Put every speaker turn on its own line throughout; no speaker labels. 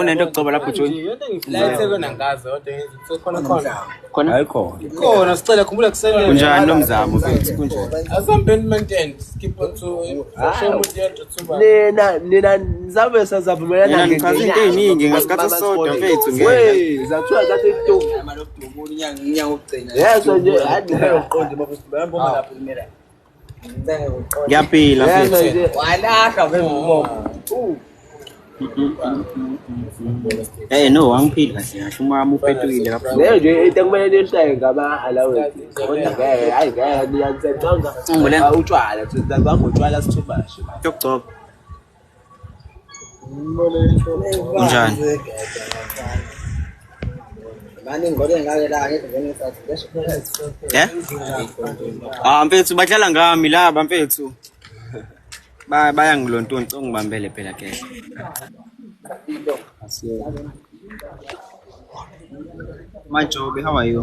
unento kucoba lapho
khona
sicela khumbula
kusenkunjani lo mzamo
nina
nina nizabe sazavumelana ngichaza into ey'ningi
ngesikhathi sisodwa mfethu ngeke
yezwa
nje hayiqonde
ngiyaphila
Eh no wangiphili kahle kahle umama uphethuile kakhulu. Leyo nje into ekumele
niyihlaye ngaba allowance. Kodwa ngeke hayi ngeke niyancanga. Utshwala, sithatha ngotshwala sithumashe. Yokugcoba.
Unjani?
Eh? Ah mfethu badlala ngami
laba mfethu. Ba bayangilontonti ongibambele phela ke. Majobe how are you?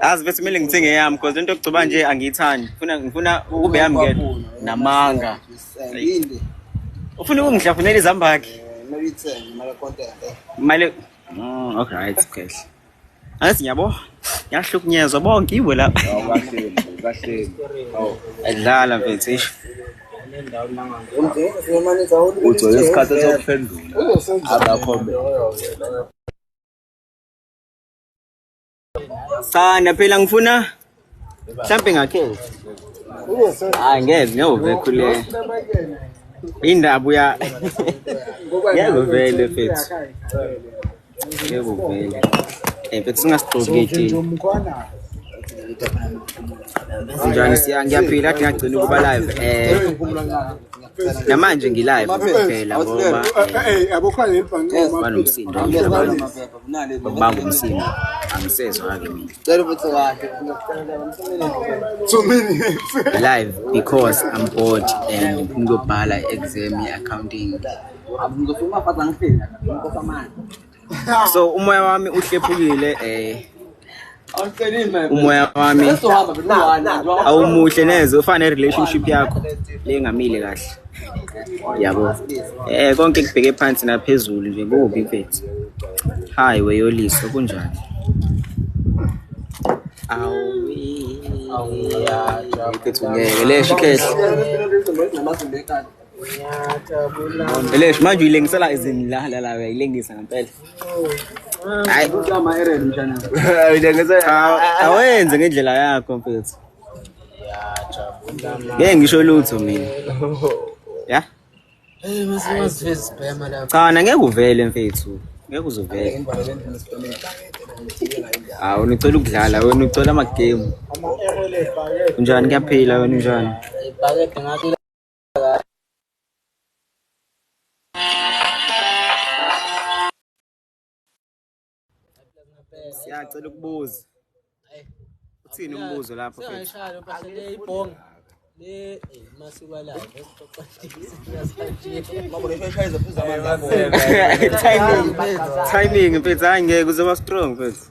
azi bese kumele ngithenge eyami because lento yokugcoba nje angiyithandi ngifuna ngifuna ukube yami ngedwa namanga
ufuna
ukungihlafunela izambakhe
mali
mm, okay right kahle angathi ngiyabo ngiyahlukunyezwa bonke iwe la adlala mfethu isho
ugcwele isikhathi sokuphendula abakho
Cha, na phela ngifuna mhlambe ngakhe. Hayi ngeke ngiyove khule. Indaba uya Yebo vele mfethu. Yebo vele. Eh mfethu singasigqoki ithini. Njani siya ngiyaphila kade ngagcina ukuba live eh namanje ngilive kuphela ngoba
banomsindo
bangibanga umsindo angisezwa-ke
mina
live
because i'm bored and ngiyobhala i-exam ye-accounting
so
umoya wami uhlephukile eh
umoya wami awumuhle neze
ufane relationship yakho lengamile kahle yabo eh konke kubheke phansi naphezulu nje kubi mfethu hayi weyoliso kunjani awuyaphethu ngeke lesho ikhehle Elesh manje uyilengisela izinilala la uyayilengisa ngempela. Hayi kodwa ama error
mshana. Uyilengisela awenze
ngendlela yakho mfethu. Ngeke ngisho lutho mina. Ya? Hey
masiwazi isibhema la. Cha ngeke uvele
mfethu. Ngeke uzovele. Hawu unicela ukudlala wena ucela ama game. Unjani kuyaphila wena unjani? Ibhakede
ngathi
siyacela ukubuza uthini umbuzo lapho siyashaya phela
ibhonga le eh, masiko la esixoxa timing timing mfethu hayi
ngeke uzoba strong mfethu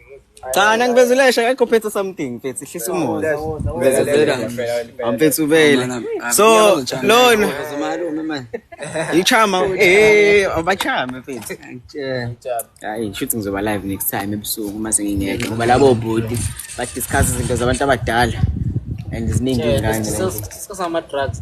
Cha na ngibezelesha akekho phethe something mfethu hlisa umoya. Ngibezelela mfethu ubele. So lona ichama eh abachama mfethu. Hayi shuthi ngizoba live next time ebusuku uma sengingeke ngoba labo bhuti ba discuss izinto zabantu
abadala
and
ziningi
ingane. Sisama drugs.